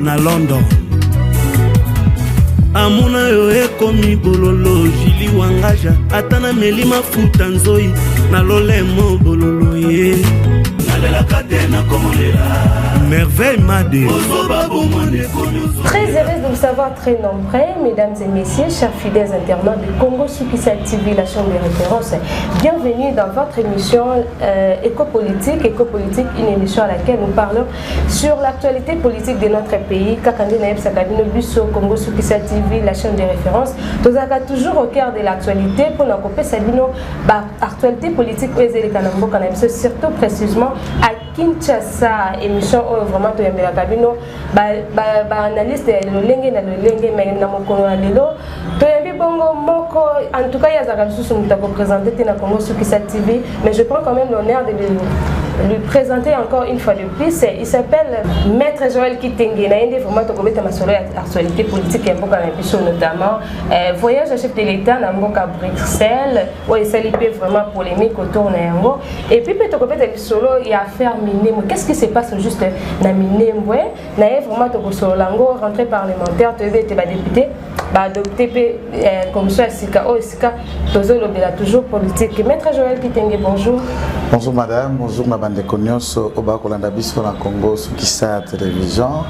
na london amona yo ekomi bololo jili wangaja ata na meli mafuta nzoi na lolemo bololo ye nalelaka te nakomolela merveille made très heureuse de vous savoir très nombreux mesdames et messieurs chers fidèles internautes du congo sukisa tv la chambre de référence bienvenue dans votre émission euh, éco-politique éco-politique une émission à laquelle nous parlons Sur l'actualité politique de notre pays, Kakande Naebsa Kabino Busso, Congo Soukissa TV, la chaîne de référence, nous avons toujours au cœur de l'actualité pour nous couper Sabino, bah, actualité politique, Ezeli Kanambo Kanabso, surtout précisément à Kinshasa, émission oyo vraiment toyambelaka bino ba, ba, ba analyste ya lolenge na lolenge mais na mokolo ya lelo toyambi bongo moko en tout cas ye azalaka lisusu moto akopresente te na congo sukisa tv mais je prends quand même l'honneur de lui présenter encore une fois de plus. Il s'appelle Maître Joël Kitenge. Il a vraiment tombé dans sur l'actualité politique et Mboka Nabiso notamment. Euh, voyage à chef de l'État dans Mboka Bruxelles, où il s'est vraiment polémique autour de Yango. Et puis, peut-être que le solo, il a affaire Minembo. Qu'est-ce qui se passe juste dans Minembo na ye vraiment tokosolola yango rentrée parlementaire toyebi ete badepute baadopte mpe eh, commission ya sika oyo esika tozolobela toujours politique maître joel kitenge bonjour bonjour madame bonjour na bandeko nyonso oyo bakolanda biso na congo sukisa ya télévision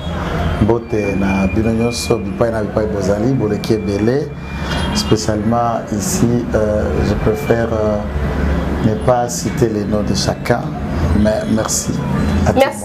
mbote na bino nyonso bipai na bipai bozali boleki ebele spécialement ici euh, je préfère euh, ne pas citer les noms de chacun mais merci à merci.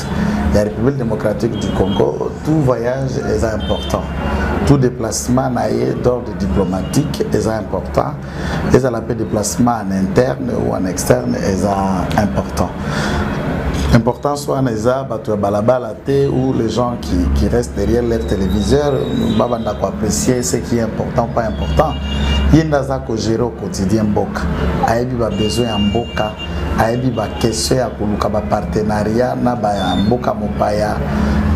ya république démocratique du congo tout voyage est important tout déplacement na ye d'ordre diplomatique est important ezala mpe déplacement en interne ou en externe est important importance wana eza bato ya balabala te ou les gens qui, qui restent derrière leur téléviseur babanda koapprécier ce qui est important pas important ye nde aza kogere au quotidien mboka ayebi babesoin ya mboka ayebi ba question ya koluka ba partenariat na ba mboka mopaya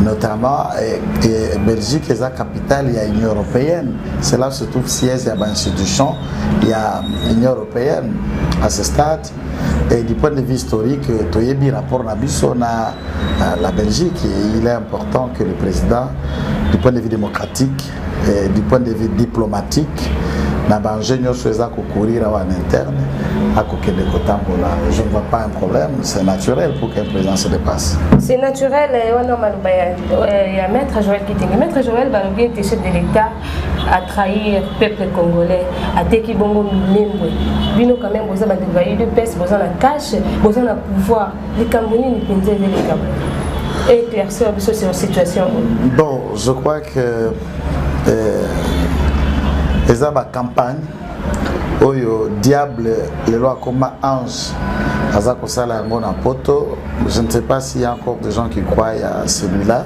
notamment eh, eh, Belgique eza capitale ya Union européenne c'est là se trouve siège ya ba institution ya Union européenne à ce stade et du point de vue historique toyebi rapport na biso na la Belgique il est important que le président du point de vue démocratique eh, du point de vue diplomatique na baenjeu nyonso eza kokurira awa na interne akokende kotambola je ne vois pas un problème c'est naturel pour qu'un président se dépasse c'est naturel eh, wana maloba ya eh, maître joël kitenge maître joël balobi ete chef de l'état à trahir peuple congolais ateki bongo minembwe bino quand même boza bato ba udps boza na cache boza na pouvoir likambo nini mpenza eza likambo éclaircir biso sur situation bon je crois que euh, eza bacampagne oyo diable lelo akoma ange aza kosala yango na poto je ne sais pas s'il y a encore des gens qui croient à celui-là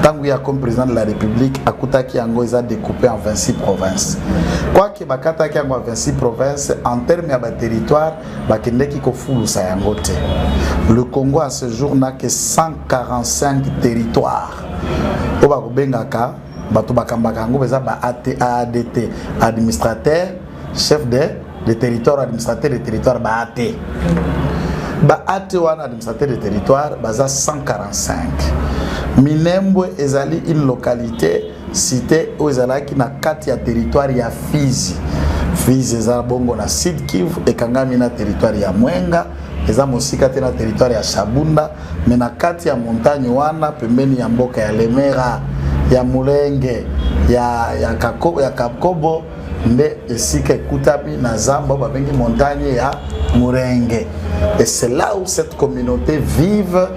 ntango ye akomi président de la république akutaki yango eza découpé en 26 provinces quoique bakataki yango ya 26 provinces en terme ya baterritoire bakendeki kofulusa yango te le congo à ce jour na ke 145 territoire oyo bakobengaka bato bakambaka yango baza ba adt administrateur chef de de territoire administrateur de territoire baat baat wana administrateur de territoire baza 145 minembwe ezali une localité cité oyo ezalaki na kati ya territoire ya fizi fizi eza bongo na sud kivu ekangami na territoire ya mwenga eza mosika te na territoire ya shabunda me na kati ya montagne wana pembeni ya mboka ya lemera ya mulenge ya, ya, kako, ya kakobo nde esika ekutami na zamba oyo babengi montagne ya murenge et c'est là où cette communauté vive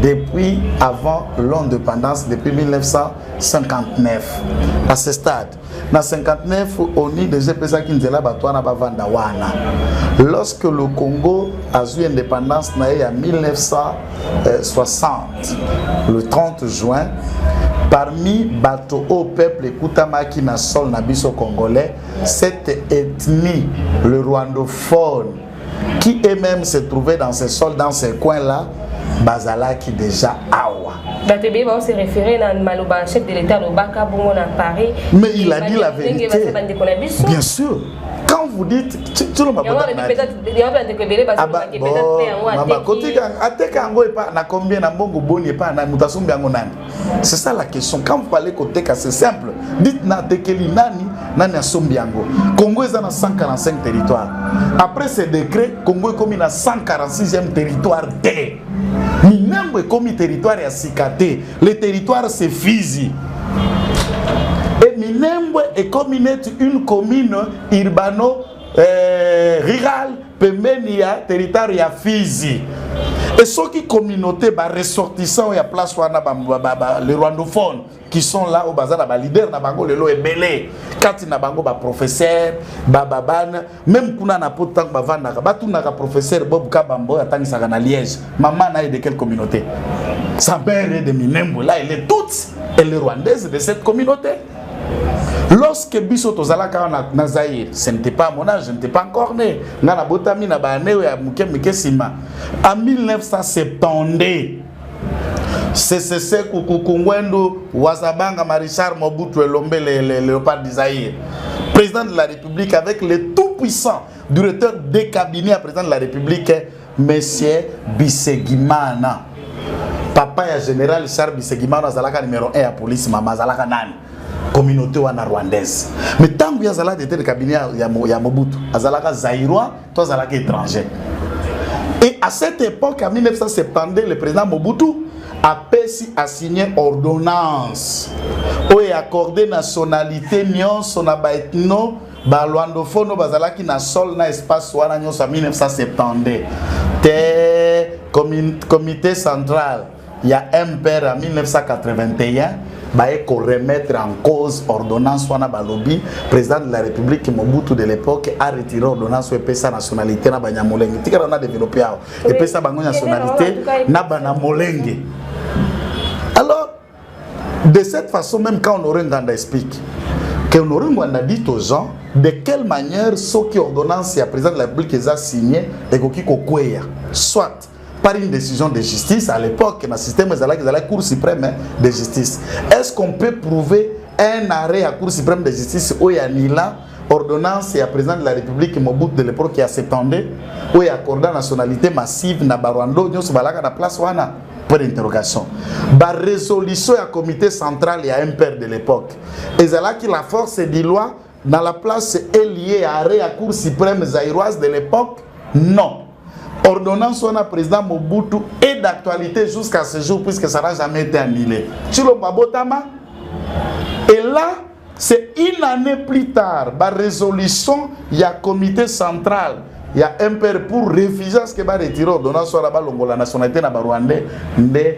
depuis avant l'indépendance depuis 1959 à ce stade na 59 oni deja epesaki nzela bato wana bavanda wana lorsque le congo azwi indépendance na ye ya 1960 le 30 juin parmi bato oyo peuple ekutamaki na sol na biso congolais cette ethnie le rwandophone qui est même se trouver dans ce sol dans ce coin là bazalaki déjà awa bato ebele bao se référé na maloba chef de l'état alobaka bongo na paris mais il a dit la vérité bien sûr quand vous dites tolo mabodakotika ateka yango epa na combien na mbongo boni epa na moto asombi yango nani c'est ça la question quand vous parlez koteka c'est simple dites na atekeli nani nani asombi yango congo eza na 145 territoire après ce décret congo ekomi na 146e territoire te minambo ekomi territoire ya sika te Le territoire c'est Fizi. Et Minembwe est comme une commune urbano euh, rurale pembeni ya territoire ya Fizi. Et ceux qui communauté ba ressortissants ya place wana ba, ba, ba, ba les rwandophones qui sont là au bazar ba leader na bango lelo ebele kati na bango ba professeur ba babana meme kuna na poto ntango bavandaka batunaka professeur bob kabamba oyo atangisaka na liège mama na ye de quelle communauté sa mère est de minembo là elle est toute elle est rwandaise de cette communauté lorsque biso tozalaka wana na zaire ce n'était pas mon âge je n'était pas encore né nga nabotami na baane oyo ya moke moke nsima en 1970 sesese kukukungwendu wazabanga marichard mobutu elombe le, le, leopard d'Isaïe président de la république avec le tout puissant directeur de cabinet ya président de la république monsieur bisegimana papa ya général charles bisegimana azalaka numéro 1 ya police mama azalaka nani communauté wana rwandaise mais ntango ye azalaka directeur de cabinet ya, ya, ya mobutu azalaka zairois Toi, Zalaki étranger. Et à cette époque, en 1972, le président Mobutu a pesi a signé ordonnance où est accordé nationalité nyonso na ba ethno ba luandophone bazalaki na sol na espace wana nyonso en 1972 te comité central ya mpr ya 1981 baye koremettre en cause ordonnance wana balobi président de la république mobutu de l'époque a retiré ordonnance oyo epesa nationalité na banyamolenge tikala na développe awa epesa bango nationalité na banamolenge alors de cette façon même quand honore nganda explique que honore nganda dit aux gens de quelle manière soki ordonnance ya président de la république eza signe ekoki kokweya soit par une décision de justice à l'époque na système ezalaki ezalaki cour suprême de justice est ce qu'on peut prouver un arrêt ya cour suprême de justice oyo anila ordonnance ya président de la république mobutu de l'époque ya 72 oyo accorda nationalité massive na barwando nyonso balaka na place wana point d'interrogation barésolution ya comité central ya mpr de l'époque ezalaki la force du loi na la place est lié à arrêt ya cour suprême zaïroise de l'époque non ordonnance wana président mobutu est d'actualité jusqu'à ce jour puisque ça n'a jamais été annulé tshilombo abotama et là c'est une année plus tard ba résolution ya comité central ya mpr pour refuser ce que ba retire ordonnance wana balongola nationalité na barwandais nde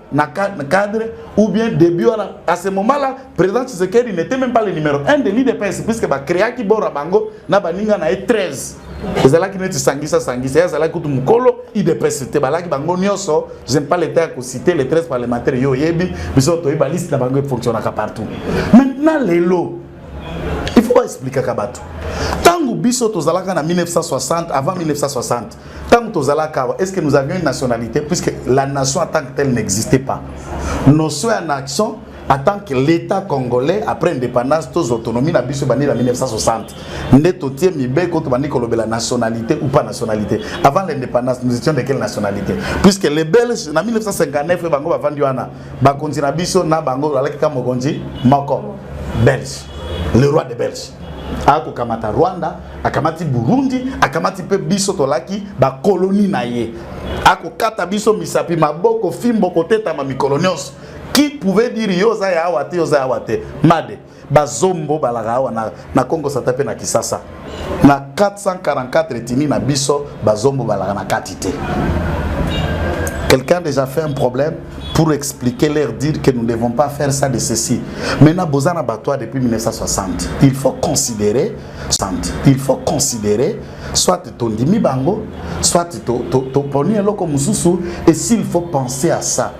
na cadre ou bien début wana à ce moment là président Tshisekedi n'était même pas le numéro 1 de l'IDPS puisque ba créaki bora bango na baninga na ye 13 ezalaki neti sangisa sangisa ye azalaki kutu mokolo idps te balaki bango nyonso j'aime pas l'état ya kocite les 13 parlementaire yo oyebi biso toyebi baliste na bango efonctionnaka partout maintenant lelo il faut baexplikaka bato ntango biso tozalaka na 1960 avant 1960 ntango tozalaka awa est ce que nous avions une nationalité puisque la nation en tant que telle n'existait pas notion ya nation en tant que l'état congolais après indépendance tous autonomie na biso bandi na 1960 nde totie mibeko tobandi kolobela nationalité ou pas nationalité avant l'indépendance nous étions de quelle nationalité puisque les belges na 1959 bango bavandi wana bakonzi na biso na bango bazalaki ka mokonzi moko belge le roi de belge akokamata rwanda akamati burundi akamati mpe biso tolaki bakoloni na ye akokata biso misapi maboko fimbo kotetama mikolo nyonso qui pouvait dire yo oza ya awa te oza ya awa te made bazombo balaka awa na, na congo sata mpe na kisasa na 444 etini na biso bazombo balaka na kati te quelqu'un déjà fait un problème pour expliquer leur dire que nous ne devons pas faire ça de ceci maintenant boza na batoa depuis 1960 il faut considérer il faut considérer soit tondimi bango soit toponi to, to, eloko mosusu et s'il faut penser à ça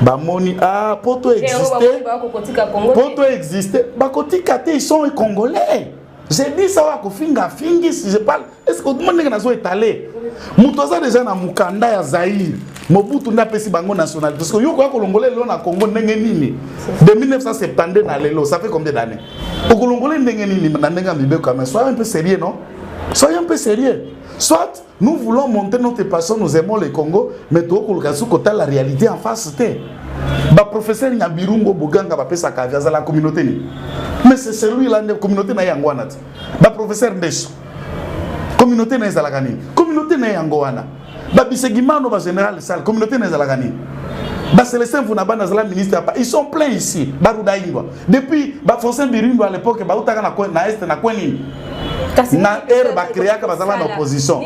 bamoni ah, po to existe po to existe bakotika te ils sont congolais j'ai dit ça wa kofinga afingi si je parle est ce que otomoni ndenge nazo etale moto aza deja na mokanda ya zaire mobutu nde apesi bango nationalité parce que yo okoya kolongola lelo na congo ndenge nini de 1972 na lelo ça fait combien d'année okolongola ndenge nini na ndenge ya mibeko ya mai soya mpe sérieux non soya mpe sérieux soit Nous voulons monter notre passion, nous aimons le Congo, mais tu as su kota la réalité en face te. Ba professeur nya birungo boganga ba pesa ka via la communauté ni. Mais c'est celui là la communauté na yango wana. Ba professeur ndeso. Communauté na ezala kani. Communauté na yango wana. Ba bisegimano ba général sal communauté na ezala kani. Ba Célestin Vunaba na zala ministre apa. Ils sont pleins ici. Baruda Ingwa. Depuis ba Fonsen Birundo à l'époque ba utaka na na est na kweni. na heure bacreaka baza na opposition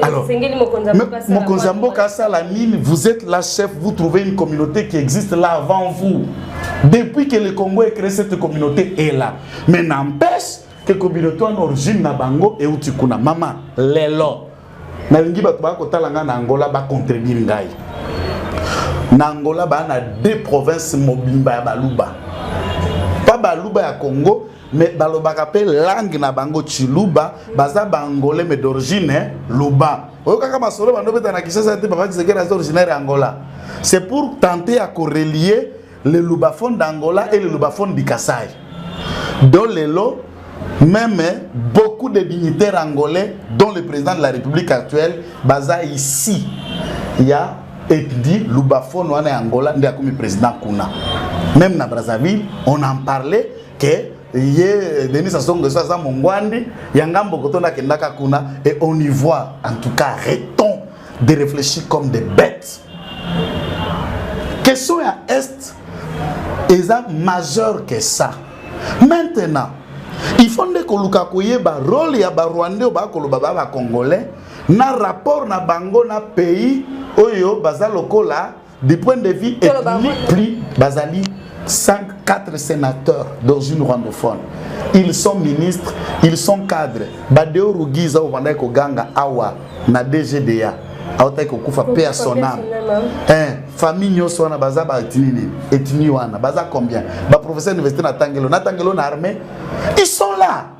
alors mokonzi ya mboka asala nini vous êtes la chef vous trouvez une communauté qui existe là avant vous depuis que le congo est créé cette communauté est là mais n'empêche que communauté wana origine na bango euti kuna mama lelo nalingi bato baya kotala ngai na angola bacontredire ngai na angola baa na deux province mobimba ya baluba pa baluba ya congo mais balobaka mpe langue na bango chiluba baza baangolais mais d'origine luba oyokaka masolo bando obeta na kinshasa te papa kisekeli aza originaire ya angola c'est pour tenter ya korelie le lubaphone d'angola et le lubaphone du kasai do lelo même beaucoup de dignitaires angolais dont le président de la république actuelle baza ici ya ethnie lubaphone wana ya angola nde akomi président kuna même na brazzaville on en parlait que ye Denis Sassou Nguesso aza mongwandi ya ngambo koto nakendaka kuna et on y voit en tout cas arrêtons de réfléchir comme des bêtes question ya est eza majeur que ça maintenant il faut nde koluka koyeba role ya barwandais oyo bakoloba ba bacongolais na rapport na bango na pays oyo baza lokola du point de vue ethnique plus bazali 5 4 sénateurs dans une rwandophone ils sont ministres ils sont cadres badeo rugiza oyo bandaki koganga awa na dgda autaki kokufa mpe ya son ame eh, famille nyonso wana baza baetini nini etini wana baza combien baprofesseur université na tangelo na tangelo na armée ils sont là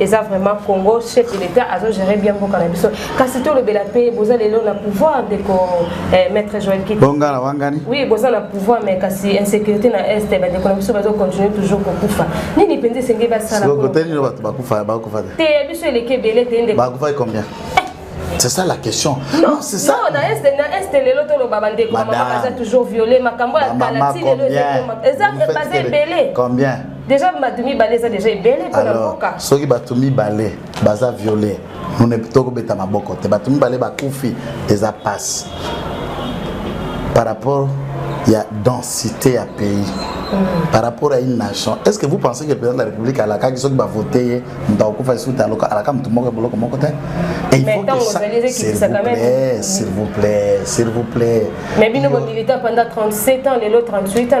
eza vraiment congo chef de l'état azo gérer bien mboka na biso kasi tolobela mpe boza lelo na pouvoir ndeko eh, maître joel kibonga na wangani oui boza na pouvoir mais kasi insécurité na est bandeko na biso bazo continuer toujours kokufa nini mpenza esengeli basala kotelino bato bakufa bakufa te te biso eleki ebele te ndeko bakufaki combien C'est ça la question. Non, non c'est ça. Non, na est na est lelo to loba bande ko maman toujours violé makambo ya kala ti lelo eza basé belé. Combien deja bato mibale eza deja ebele mpo na mboka soki bato mibale baza viole nune tokobeta maboko te bato mibale bakufi eza passe par rapport ya densité ya pays mm. par rapport à une nation est ce que vous pensez que le président de la république alakaki soki bavote ye moto akokufa lisusu te alaka moto moko ya boloko moko te il faut que ça s'il vous plaît s'il vous plaît s'il vous plaît mais bino bomilita pendant 37 ans lelo 38 ans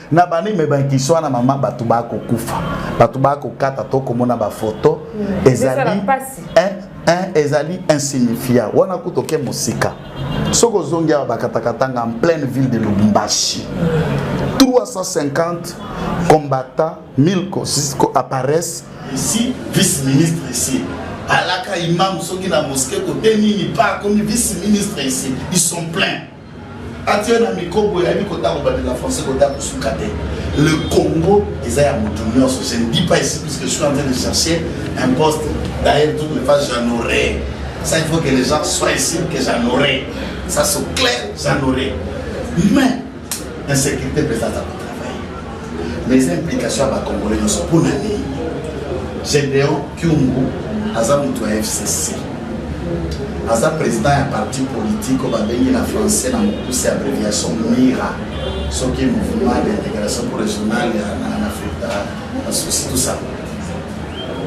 na bani me bankisi wana mama bato bakokufa bato bakokata to komona bafoto mm. ezali un ezali insignifia wana kutu oke mosika soki ozongi awa bakatakatanga en pleine ville de lubumbashi 350 combattants 1000 apparaissent ici vice ministre ici alaka imam soki na mosquée kote nini pa akomi vice ministre ici ils sont pleins atie na micro boye ayebi kota kobandela français kota kosuka te le congo eza ya moto nyonso je ne dis pas ici puisque je suis en train de chercher un poste d'ailleurs toutes les fois j'en aurai ça il faut que les gens soient ici que j'en aurai ça soit clair j'en aurai mais insécurité mpe ezazaka mais eza implication ya bacongolais nyonso mpo na nini gedeon kiungu aza moto ya fcc aza président ya parti politique oyo babengi na français na mokuse abréviation mira soki mouvement d'intégration pour régional en afrique basusi tout ça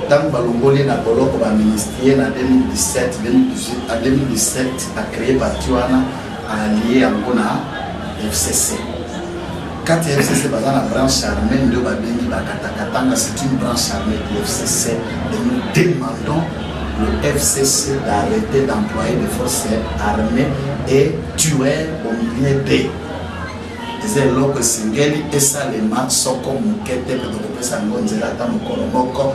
ntango balongoli ye na boloko baministrie na 2017 2018 a 2017 acreye parti wana alie yango na fcc kati ya fcc baza na branche armée nde babengi bakatakatanga c'est une branche armée du fcc et nous demandons le fcc d'arrêter d'employer des forces armées et tuer au milieu de eza eloko esengeli esalema soko moke te mpe tokopesa yango nzela ata mokolo moko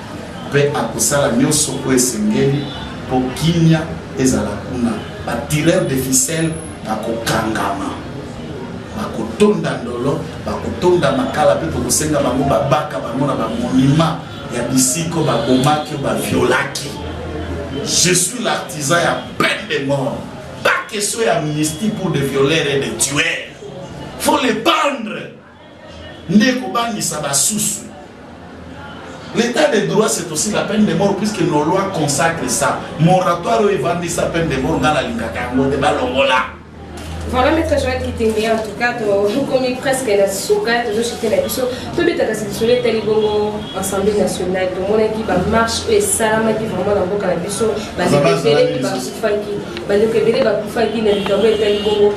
Mpe akosala nyonso oyo esengeli mpo kimya ezala kuna. Ba tireurs de ficelle bakokangama, bakotonda ndolo, bakotonda makala, mpe tokosenga bango babaka bango na bamonima ya bisika oyo babomaki, oyo baviolaki. Je suis l'artisan ya peine de mort, pas question ya amnistie pour des violeurs et des tueurs. Faut les pendre. nde kobangisa basusu. L'etat de droit c'est aussi la peine de mort puisque nos lois consacrent ça. Moratoire oyo evandisa peine de mort nga nalingaka yango te balongola. Voilà maître Joël Kitenge en tout cas tokomi presque na suka tozoshite na biso tobetaka lisolo etali bongo assemblée nationale tomonaki bamarche oyo esalamaki vraiment na mboka na biso bandeko ebele bakufaki bandeko ebele bakufaki na likambo etali bongo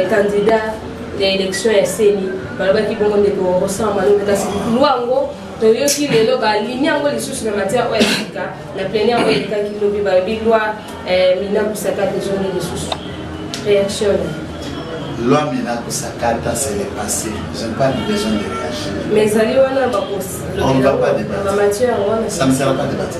candidat ya election ya seni balobaki bongo ndeko rosant malonde kasi lwa yango toyoki lelo balini yango lisusu na matière oyo esika na plene yango elekaki lobi balobi lwa eh, mina kusakata ezongi lisusu réaction loi mina kusakata c'est le passé je n'ai pas de besoin de réagir mais ezali wana bakosi on ne va pas débattre ça ne sera pas débattre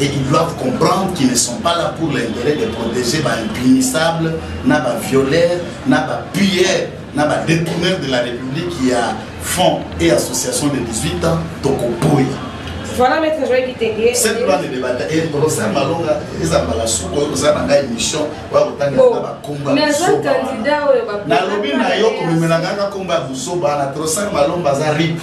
et ils doivent comprendre qu'ils ne sont pas là pour l'intérêt de protéger ba impunissables na ba violeurs na ba pilleurs na ba détourneurs de la république qui a fonds et association de 18 ans tokoboya voilà maître joel kitenge cette loi ne débata et professeur malonga eza mbala suku oyo kozala na ngai émission oya kotangela na bakomba nalobi na yo komemela ngai nakomba ya buzoba na professeur malomba aza ripe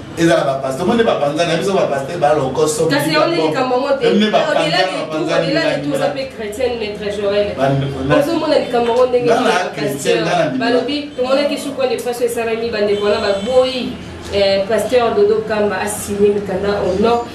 ezala bapaster omoni bapanza na biso bapaster balokoso kasi yaone likambo yango te odelaniuoza mpe chrétienne maître joel ozomona likambo yango ndenge balobi tomonaki sukwa depression esalami bandeko wana baboyi eh, pasteur dodo kamba asigne mikanda au nom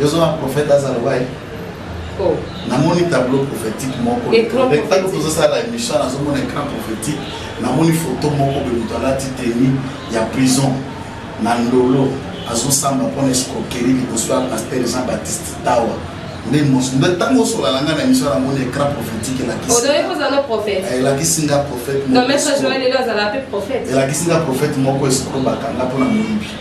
Yo zo na prophète aza loba ye. Oh. Namoni tableau prophétique moko. Tableau tozo sala émission nazo mona écran prophétique. Namoni photo moko be moto alati tenue ya prison na ndolo azosamba mpo na escroquerie liboso ya pasteur Jean Baptiste Tawa. nde mosu nde ntango osolala ngai na emission namoni écran prophétique elakisielakisi nga prophète elakisi nga prophète moko escro bakanga mpo na moyibi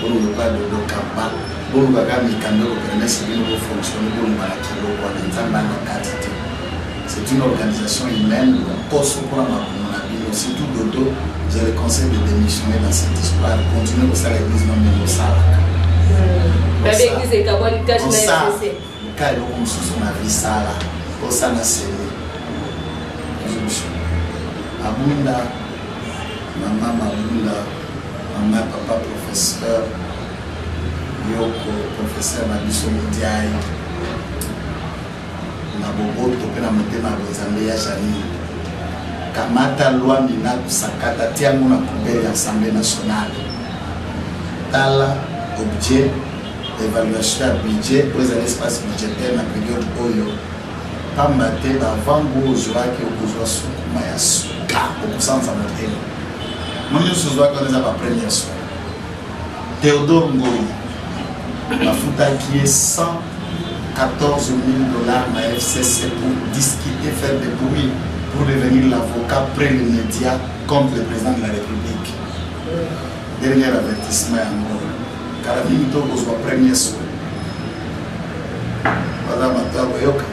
boluka dodo kamba boluka kaka mikanda oyo permese bino bofonctionne boluka na kilo wana nzambe ana kati te c'est une organisation humaine lokoso mpona makomo na bino surtout dodo vous avez conseil de démissionner dans cette histoire continue kosala église mambe mosalaka babekize ekabwani tâche na Luka eloko mosusu na vie sala kosana semi nzuzu abunda mama mabunda mama ya papa professeur yoko professeur na biso modiai na boboto mpe na motema ya bonzambe ya janine kamata lwa mina kusakata tiango na poubele ya assemblée nationale tala objet evaluation ya budget oyo ezali espace budgetaire na periode oyo pamba te bavango ozwaki okozwa sukuma ya suka okosanza motema mo nyonso ozwaki wana eza bapremière soin Théodore Ngoyi bafutaki ye 114 000 dollars na FCC pour discuter, faire des bruits pour devenir l'avocat près les médias contre le président de la République. Dernier avertissement à Ngoyi. kala mingi to kozwa premier soin baza matabo eyoka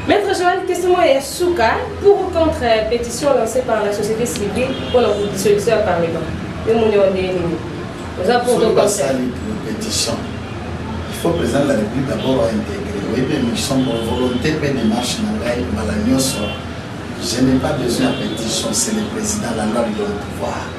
Maître Joël, question ya suka pour ou contre euh, pétition lancée par la société civile pour la dissolution ya parlement yo moni wa ndenge nini oza pour to basali pour pétition il faut président de la république d'abord aintégré oyebi émission pour volonté mpe démarche na ngai mbala nyonso je n'ai pas besoin ya pétition c'est le président la loi lui donne pouvoir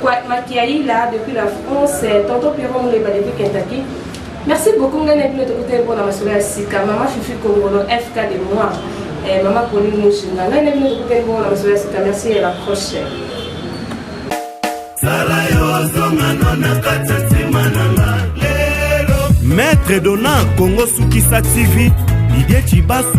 Kwat Makiaila depuis la France, euh, Tonton Pierrot Muleba depuis Kentucky. Merci beaucoup ngai na bino tokutani mpona masolo ya sika mama fifi kongolo fk de moi eh, mama pauline mushinga ngai na bino tokutani mpona masolo ya sika merci et la prochaine sala yo zongano na kati ya ntima na nga lelo maître dona kongo sukisa tv didie cibasu